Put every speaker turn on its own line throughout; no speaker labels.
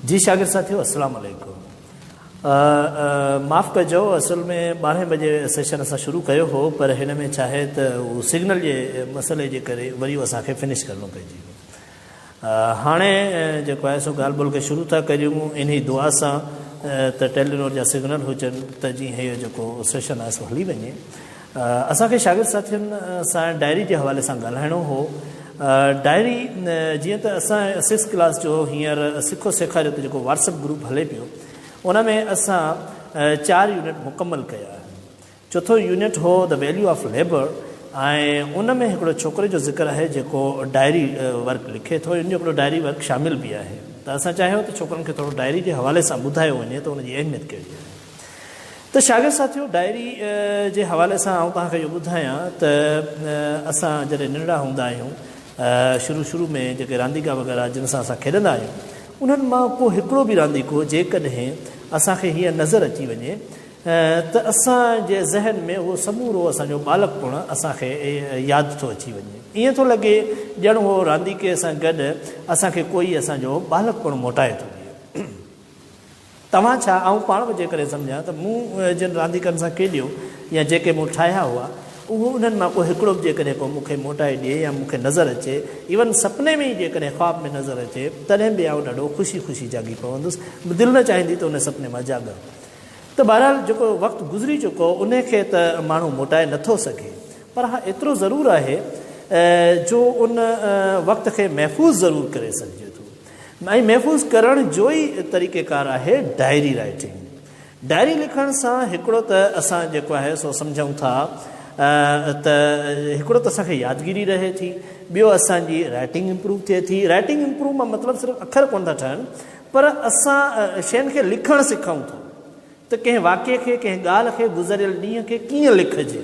جي شاگرد ساٿيو السلام عليڪم معاف ڪجو اصل ۾ ٻارهين بجي سيشن اسان شروع ڪيو هو پر هن ۾ ڇا آهي ته هو سگنل جي مسئلي جي ڪري وري اسان کي فنش ڪرڻو پئجي ويو هاڻي جيڪو آهي سو ڳالهه ٻولهه کي شروع ٿا ڪريون انهي دعا سان ته ٽيلينور جا سگنل هجن ته جيئن هيء جيڪو سيشن آهي سو هلي وڃي اسان کي شاگرد ساٿين سان ڊائري جي حوالي سان ڳالهائڻو هو. ڊائري جيئن ته اسان سڪس ڪلاس جو هينئر سکو سيکاريو تي جيڪو واٽسپ گروپ هلي پيو ان ۾ اسان چار يونٽ مڪمل ڪيا آهن. چوٿون يونٽ هو The Value of Labour ۽ ان ۾ هڪڙو ڇوڪري جو ذڪر آهي جيڪو ڊائري ورڪ لکي ٿو ان جو هڪڙو ڊائري ورڪ شامل به آهي ته اسان چاهيو ته ڇوڪرن کي ٿورو ڊائري جي حوالي سان ٻڌايو وڃي ته ان جي اهميت ڪهڙي آهي. ته شاگرد ساٿيو ڊائري جي حوالي سان آئون توهان کي اهو ٻڌايان ته اسان جڏهن ننڍڙا هوندا آهيون شروع شروع ۾ جيڪي رانديڪا وغيره جن سان اسان کيڏندا آهيون انهن مان ڪو هڪڙو به رانديڪو جيڪڏهن اسان کي هيئن نظر اچي وڃي ته اسان جي ذهن ۾ اهو سمورو اسان جو ٻالڪپڻ اسان کي ياد ٿو اچي وڃي ائين ٿو لڳي ڄڻ اهو رانديڪي سان گڏ اسان کي ڪوئي اسان جو ٻالڪپڻ موٽائي ٿو ڏئي. توهان ڇا آئون پاڻ به جيڪڏهن سمجهان ته مون جن رانديڪن سان کيڏيو يا جيڪي مون ٺاهيا هئا اهو انهن مان ڪو هڪڙو به جيڪڏهن ڪو مون کي موٽائي ڏئي يا مون کي نظر اچي ايون سپني ۾ ئي جيڪڏهن خواب ۾ نظر اچي تڏهن به آئون ڏاڍو خوشي خوشي جاڳي پوندس دل نه چاهيندي ته ان سپني مان جاڳان ته بهرحال جيڪو وقت گذري چڪو ان کي ته ماڻهو موٽائي نه ٿو سگهي پر ها ايترو ضرور آهي جو ان وقت کي محفوظ ضرور ڪري سگهجي ٿو. ۽ محفوظ ڪرڻ جو ئي طريقيڪار آهي ڊائري رائيٽنگ. ڊائري لکڻ سان هڪڙو ته اسان جيڪو آهي سو سمجهون ٿا ته هڪڙو ته اسان کي يادگيري رهي ٿي، ٻيو اسان جي رائيٽنگ امپروو ٿئي ٿي. رائيٽنگ امپروو مان مطلب صرف اکر ڪونه ٿا ٺهن پر اسان شين کي لکڻ سکون ٿا ته ڪنهن واقعي کي، ڪنهن ڳالهه کي، گذريل ڏينهن کي ڪيئن لکجي.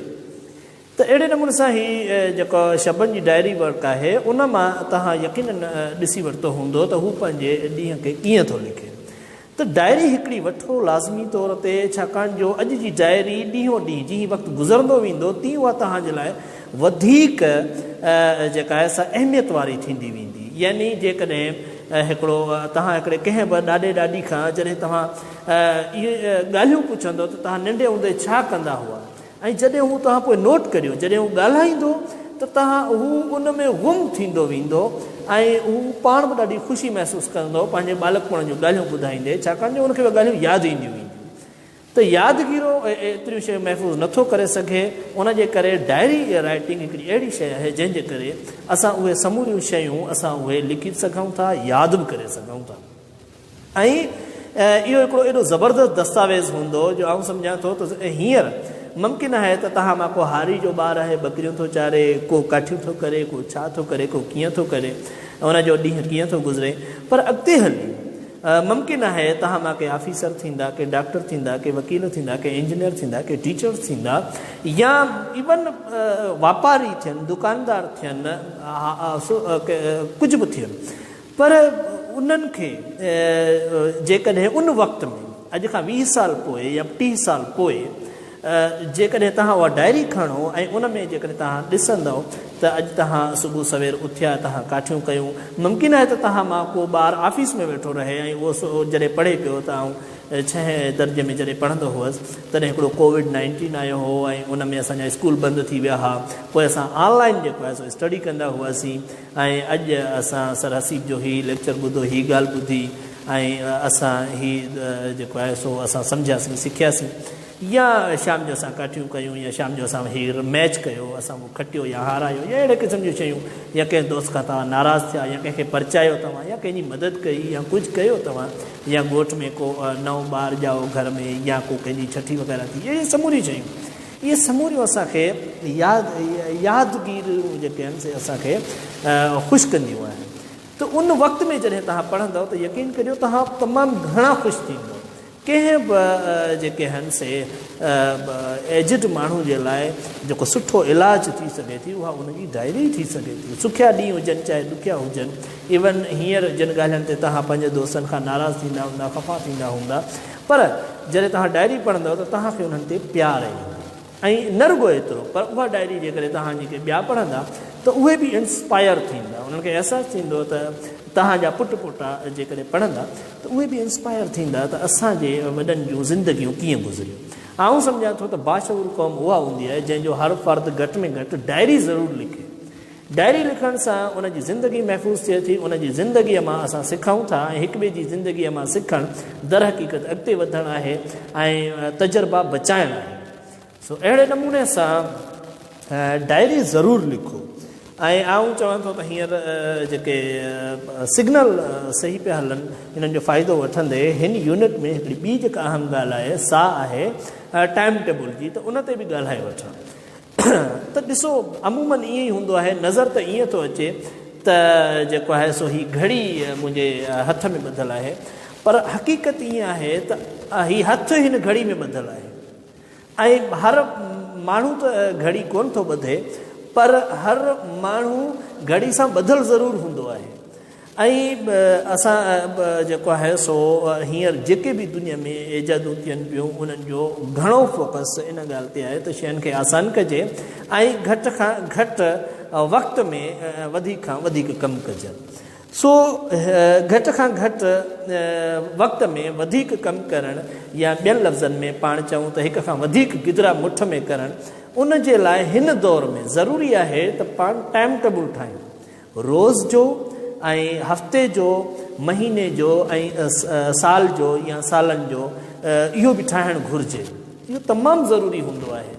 ته اهڙي نموني سان هي جيڪو شبن جي ڊائري ورڪ آهي ان مان توهان يقينن ڏسي ورتو هوندو ته هو پنهنجي ڏينهن کي ڪيئن ٿو لکي. ته ڊائري هڪڙي وٺو لازمي طور تي ڇاڪاڻ جو اڄ جي ڊائري ڏينهون ڏينهن جيئن وقت گذرندو ويندو تيئن اها توهان جي لاء وڌيڪ جيڪا آهي سا اهميت واري ٿيندي ويندي يعني جيڪڏهن هڪڙو توهان هڪڙي ڪنهن به ڏاڏي ڏاڏي کان جڏهن توهان اهي ڳالهيون پڇندو ته توهان ننڍي هوندي ڇا ڪندا هئا ۽ جڏهن هو توهان پوء نوٽ ڪريو جڏهن هو ڳالهائيندو ته توهان هو ان ۾ غم ٿيندو ويندو ۽ هو پاڻ به ڏاڍي خوشي محسوس ڪندو پنهنجي ٻالڪپڻ جون ڳالهيون ٻڌائيندي ڇاڪاڻ جو ان کي اهي ڳالهيون ياد اينديون وينديون ته يادگيرو ايتريون شيون محفوظ نٿو ڪري سگهي ان جي ڪري ڊائري رائيٽنگ هڪڙي اهڙي شيء آهي جنهن جي ڪري اسان اهي سموريون شيون اسان اهي لکي به سگهون ٿا ياد به ڪري سگهون ٿا. ۽ اهو هڪڙو ايڏو زبردست دستاويز هوندو جو آئون سمجهان ٿو ته هينئر ممڪن آهي ته توهان مان ڪو هاري جو ٻار آهي ٻڪريون ٿو چاري ڪو ڪاٺيون ٿو ڪري ڪو ڇا ٿو ڪري ڪو ڪيئن ٿو ڪري ۽ ان جو ڏينهن ڪيئن ٿو گذري پر اڳتي هلي ممڪن آهي توهان مان ڪي آفيسر ٿيندا ڪي ڊاڪٽر ٿيندا ڪي وڪيل ٿيندا ڪي انجنيئر ٿيندا ڪي ٽيچر ٿيندا يا ايون واپاري ٿين دڪاندار ٿين ڪجهه به ٿين پر انهن کي جيڪڏهن ان وقت ۾ اڄ کان ويهه سال پوء يا ٽيهه سال پوء جيڪڏهن توهان اها ڊائري کڻو ۽ ان ۾ جيڪڏهن توهان ڏسندؤ ته اڄ توهان صبح سوير اٿيا توهان ڪاٺيون ڪيون ممڪن آهي ته توهان مان ڪو ٻار آفيس ۾ ويٺو رهي ۽ اهو جڏهن پڙهي پيو ته آئون ڇهين درجي ۾ جڏهن پڙهندو هئس تڏهن هڪڙو ڪووڊ نائنٽين آيو هو ۽ ان ۾ اسان جا اسڪول بند ٿي ويا ها پوء اسان آن لائن جيڪو آهي سو اسٽڊي ڪندا هئاسين ۽ اڄ اسان سر حسيب جو هي ليڪچر ٻڌو، هي ڳالهه ٻڌي ۽ اسان هي جيڪو آهي سو اسان سمجهياسين، سکياسين يا شام جو اسان ڪاٺيون ڪيون يا شام جو اسان هي ميچ ڪيو، اسان ڪو کٽيو يا هارايو يا اهڙي قسم جون شيون يا ڪنهن دوست کان توهان ناراض ٿيا يا ڪنهن کي پرچايو توهان يا ڪنهن جي مدد ڪئي يا ڪجهه ڪيو توهان يا ڳوٺ ۾ ڪو نئون ٻار ڄائو گهر ۾ يا ڪو ڪنهن جي ڇٺي وغيره ٿي اهي سموريون شيون اهي سموريون اسان کي ياد يادگيريون جيڪي آهن سي اسان کي خوش ڪنديون آهن ته ان وقت ۾ جڏهن توهان پڙهندو ته يقين ڪريو توهان تمام گهڻا خوش ٿيندو ڪنهن به جيڪي آهن سي ايجڊ ماڻهو جي لاء جيڪو سٺو علاج ٿي سگهي ٿي اها ان جي ڊائري ٿي سگهي ٿي سکيا ڏينهن هجن چاهي ڏکيا هجن ايون هينئر جن ڳالهين تي توهان پنهنجي دوستن کان ناراض ٿيندا هوندا خفا ٿيندا هوندا پر جڏهن توهان ڊائري پڙهندؤ ته توهان کي انهن تي پيار ايندو ۽ نه رڳو ايترو پر اها ڊائري جيڪڏهن توهان جي ڪي ٻيا پڙهندا ته اهي به انسپائر ٿيندا انهن کي احساس ٿيندو ته توهان جا پٽ پوٽا جيڪڏهن پڙهندا ته اهي به انسپائر ٿيندا ته اسان جي وڏن جون زندگيون ڪيئن گذريون آئون سمجهان ٿو ته باشعور قوم اها هوندي آهي جنهن جو هر فرد گهٽ ۾ گهٽ ڊائري ضرور لکي ڊائري لکڻ سان ان جي زندگي محفوظ ٿئي ٿي، ان جي زندگيء مان اسان سکون ٿا ۽ هڪ ٻئي جي زندگيء مان سکڻ درحقيقت اڳتي وڌڻ آهي ۽ تجربا بچائڻ آهي. سو اهڙي نموني سان ڊائري ضرور لکو ۽ آئون چوان ٿو ته هينئر جيڪي سگنل صحيح پيا هلن انهن جو فائدو وٺندي هن يونٽ ۾ هڪڙي ٻي جيڪا اهم ڳالهه آهي سا آهي ٽائيم ٽيبل جي ته ان تي به ڳالهائي وٺان. ته ڏسو عموماً ائين ئي هوندو آهي، نظر ته ائين ٿو اچي ته جيڪو آهي سو هي گهڙي منهنجي هٿ ۾ ٻڌل آهي پر حقيقت ائين آهي ته هي هٿ هن گهڙي ۾ ٻڌل آهي ۽ هر ماڻهو ته گهڙي ڪونه ٿو ٻڌي پر هر ماڻهو گهڙي سان ٻڌل ضرور هوندو آهي ۽ اسان جيڪو آهي سو هينئر جيڪي به دنيا ۾ ايجادون ٿين پيون انهن جو گهڻو فوڪس ان ڳالهه تي آهي ته شين کي آسان ڪجي ۽ گهٽ کان گهٽ وقت ۾ وڌيڪ کان وڌيڪ ڪم ڪجن سو گهٽ کان گهٽ وقت ۾ وڌيڪ ڪم ڪرڻ يا ٻين لفظن ۾ پاڻ چئون ته هڪ کان وڌيڪ گدرا مٺ ۾ ڪرڻ ان جي لاء هن دور ۾ ضروري آهي ته پاڻ ٽائيم ٽيبل ٺاهيون روز جو ۽ هفتي جو مهيني جو ۽ سال جو يا سالن جو اهو به ٺاهڻ گهرجي اهو تمام ضروري هوندو آهي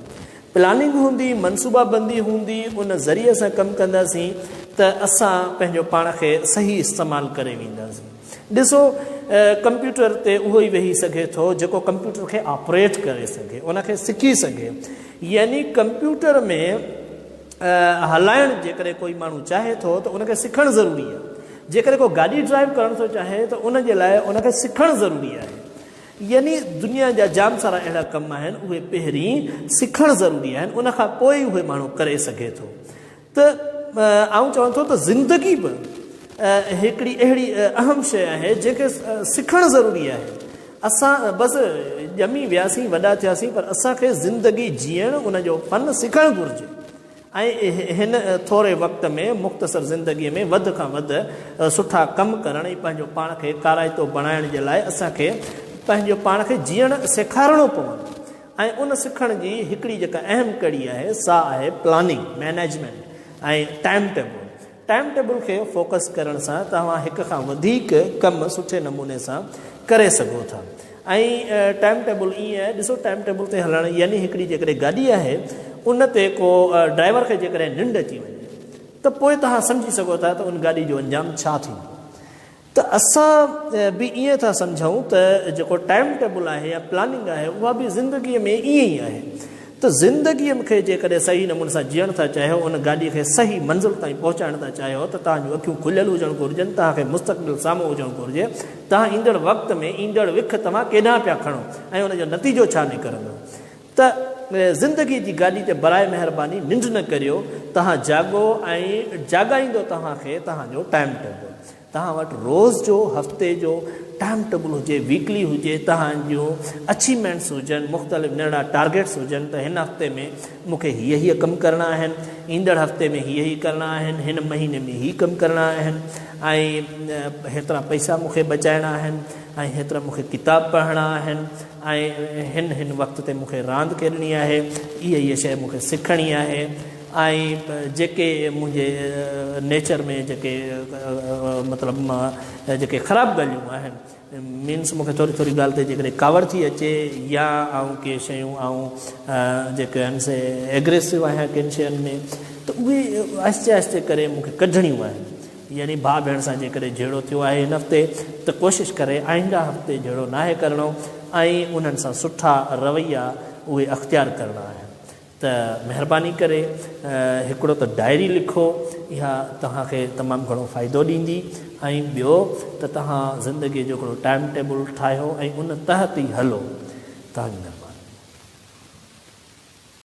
پلاننگ هوندي منصوبا بندي هوندي ان ذريعي سان ڪم ڪنداسين ته اسان پنهنجو پاڻ کي صحيح استعمال ڪري وينداسين ڏسو ڪمپيوٽر تي اهو ئي ويهي سگهي ٿو جيڪو ڪمپيوٽر کي آپريٽ ڪري سگهي ان کي سکي سگهي يعني ڪمپيوٽر ۾ هلائڻ جيڪڏهن ڪوئي ماڻهو چاهي ٿو ته ان کي سکڻ ضروري آهي جيڪڏهن ڪو گاڏي ڊرائيو ڪرڻ ٿو چاهي ته ان جي لاء ان کي سکڻ ضروري آهي يعني دنيا جا جام سارا اهڙا ڪم آهن اهي پهرين سکڻ ضروري آهن ان کان پوء ئي اهي ماڻهو ڪري سگهي ٿو ته آئون چوان ٿو ته زندگي به هڪڙي اهڙي اهم شيء آهي جنهن کي سکڻ ضروري آهي اسان بس ڄمي وياسين وڏا ٿياسين پر اسان کي زندگي جيئڻ ان جو فن سکڻ گهرجي ۽ هن ٿوري وقت ۾ مختصر زندگي ۾ وڌ کان وڌ سٺا ڪم ڪرڻ ۽ پنهنجو پاڻ کي ڪارائتو بڻائڻ جي لاء اسان کي پنهنجو پاڻ کي جيئڻ سيکارڻو پوندو ۽ ان سکڻ جي هڪڙي جيڪا اهم ڪڙي آهي سا آهي planning management ۽ time table time table کي فوڪس ڪرڻ سان توهان هڪ کان وڌيڪ ڪم سٺي نموني سان ڪري سگهو ٿا ۽ ٽائيم ٽيبل ائين آهي ڏسو ٽائيم ٽيبل تي هلڻ يعني هڪڙي جيڪڏهن گاڏي آهي ان تي ڪو ڊرائيور کي جيڪڏهن ننڊ اچي وڃي ته پوء توهان سمجهي سگهو ٿا ته ان گاڏي جو انجام ڇا ٿيندو ته اسان به ائين ٿا سمجهون ته جيڪو ٽائيم ٽيبل آهي يا پلاننگ آهي اها به زندگي ۾ ائين ئي آهي ته زندگي کي جيڪڏهن صحيح نموني سان جيئڻ ٿا چاهيو ان گاڏي کي صحيح منزل تائين پهچائڻ ٿا چاهيو ته توهان جون اکيون کليل هجڻ گهرجن توهان کي مستقبل سامهون هجڻ گهرجي توهان ايندڙ وقت ۾ ايندڙ وک توهان ڪيڏانهن پيا کڻو ۽ ان جو نتيجو ڇا نڪرندو ته زندگي جي گاڏي تي براء مهرباني ننڊ نه ڪريو، توهان جاڳو ۽ جاڳائيندو توهان کي توهان جو ٽائيم ٽيبل. توهان وٽ روز جو، هفتي جو ٽائيم ٽيبل هجي، ويڪلي هجي، توهان جون اچيومينٽس هجن، مختلف ننڍڙا ٽارگيٽس هجن ته هن هفتي ۾ مون کي هيء هيء ڪم ڪرڻا آهن، ايندڙ هفتي ۾ هيء هيء ڪرڻا آهن، هن مهيني ۾ هي ڪم ڪرڻا آهن ۽ هيترا پئسا مون کي بچائڻا آهن ۽ هيترا مون کي ڪتاب پڙهڻا آهن. ۽ هن هن وقت تي مون کي راند کيڏڻي آهي، هيء هيء شيء مون کي سکڻي آهي ۽ جيڪي منهنجي نيچر ۾ جيڪي مطلب مان جيڪي خراب ڳالهيون آهن مينس مون کي ٿوري ٿوري ڳالهه تي جيڪڏهن ڪاوڙ ٿي اچي يا آئون ڪي شيون آئون جيڪي آهن سي ايگريسو آهيان ڪن شين ۾ ته اهي آهستي آهستي ڪري مون کي ڪڍڻيون آهن. يعني ڀاء ڀيڻ سان جيڪڏهن جهيڙو ٿيو آهي هن هفتي ته ڪوشش ڪري آئنده هفتي جهيڙو ناهي ڪرڻو ۽ انهن سان سٺا رويا اهي اختيار ڪرڻا آهن ته مهرباني ڪري هڪڙو ته ڊائري لکو اها توهان کي تمام گهڻو فائدو ڏيندي ۽ ٻيو ته توهان زندگي جو هڪڙو ٽائيم ٽيبل ٺاهيو ۽ ان تحت ئي هلو توهان جي مهرباني.